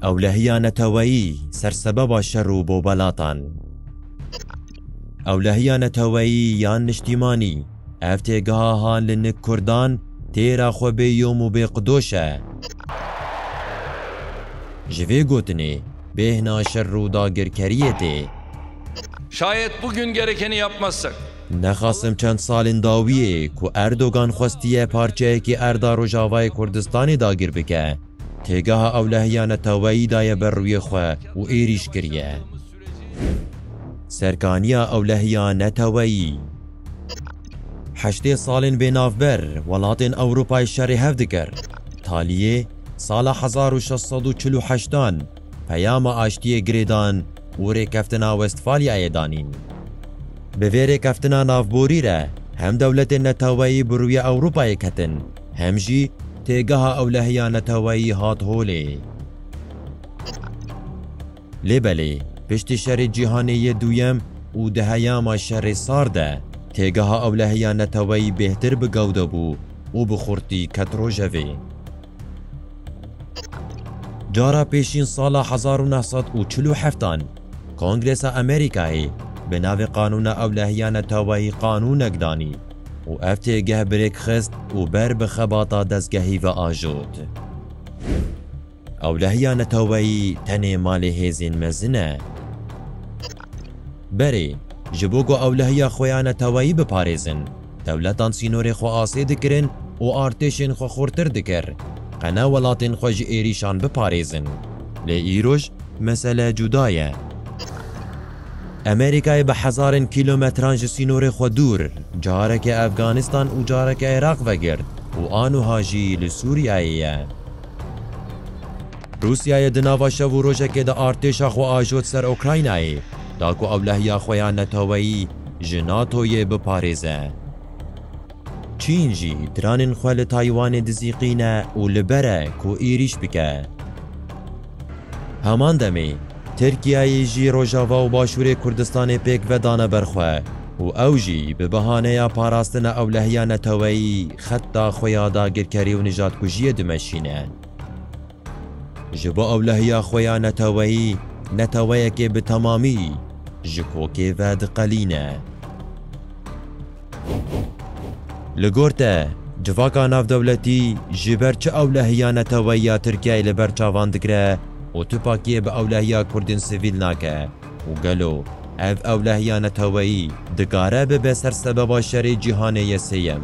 Ewlehiya neteweyî ser sebeba şer û bobalatan. Ewlehiya neteweyî yan niştîmanî, ev têgeha ha li nik kurdan têra xwe bê yom û bê qidoş e. Ji vê gotinê bêhna şer û dagirkeriyê tê. Şayet bugün gerekeni yapmazsak. Nexasim çend salên dawiyê ku Erdogan xwestiye parçeyekî erda Rojavayê Kurdistanê dagir bike, têgeha ewlehiya neteweyî daye ber rûyê xwe û êrîş kiriye ser kaniya ewlehiya neteweyî. Heştê salên vê navber welatên Ewropayê şerê hev dikir. Taliyê, sala hezar û şeş sed û çil û heştan peyama aştiyê girêdan û Rêkeftina Westfalyayê danîn. Bi vê rêkeftina navborî re hem dewletên neteweyî bi rûyê Ewropayê ketin hem jî têgeha ewlehiya neteweyî hat holê. Lê belê piştî Şerê Cîhanê yê Duyem û di heyama Şerê Sar de têgeha ewlehiya neteweyî bêhtir bi gewde bû û bi xurtî ket rojevê. Cara pêşîn sala hezar û neh sed û çil û heftan Kongresa Amerîkayê bi navê Qanûna Ewlehiyane Tewayî qanûnek danî û ev têgeh bi rêk xist û ber bi xebata dezgehî ve ajot. Ewlehiya neteweyî tenê malê hêzên mezin e. Berê, ji bo ku ewlehiya xwe ya neteweyî biparêzin, Dewletan sînorê xwe asê dikirin û artêşên xwe xurtir dikir, qene welatên xwe ji êrîşan biparêzin. Lê îroj mesele cuda ye. Amerîkayê bi hezarên kîlometran ji sînorê xwe dûr, careke Efganîstan û careke Iraq vegirt û anûha jî li Sûriyeyê ye. Rûsyayê di nava şev û rojekê de artêşa xwe ajot ser Ûkraynayê, da ku ewlehiya xwe ya neteweyî ji NATO'yê biparêze. Çîn jî dranên xwe li Taywanê dizîqîne û li ber e ku êrîş bike. Heman demê Tirkiyeyê jî Rojava û Başûrê Kurdistanê pêk vedane ber xwe û ew jî bi bihaneya parastina ewlehiya neteweyî xetta xwe ya dagirkerî û nijatkujiyê dimeşîne. Ji bo ewlehiya xwe ya neteweyî neteweyekê bi temamî ji kokê ve diqelîne. Li gor te, civaka navdewletî ji ber çi ewlehiya neteweyî ya Tirkiyeyê li ber çavan digire û tu pakiyê bi ewlehiya Kurdên sivîl nake û gelo ev ewlehiya neteweyî dikare bibe ser sebeba şerê cîhanê yê sêyem?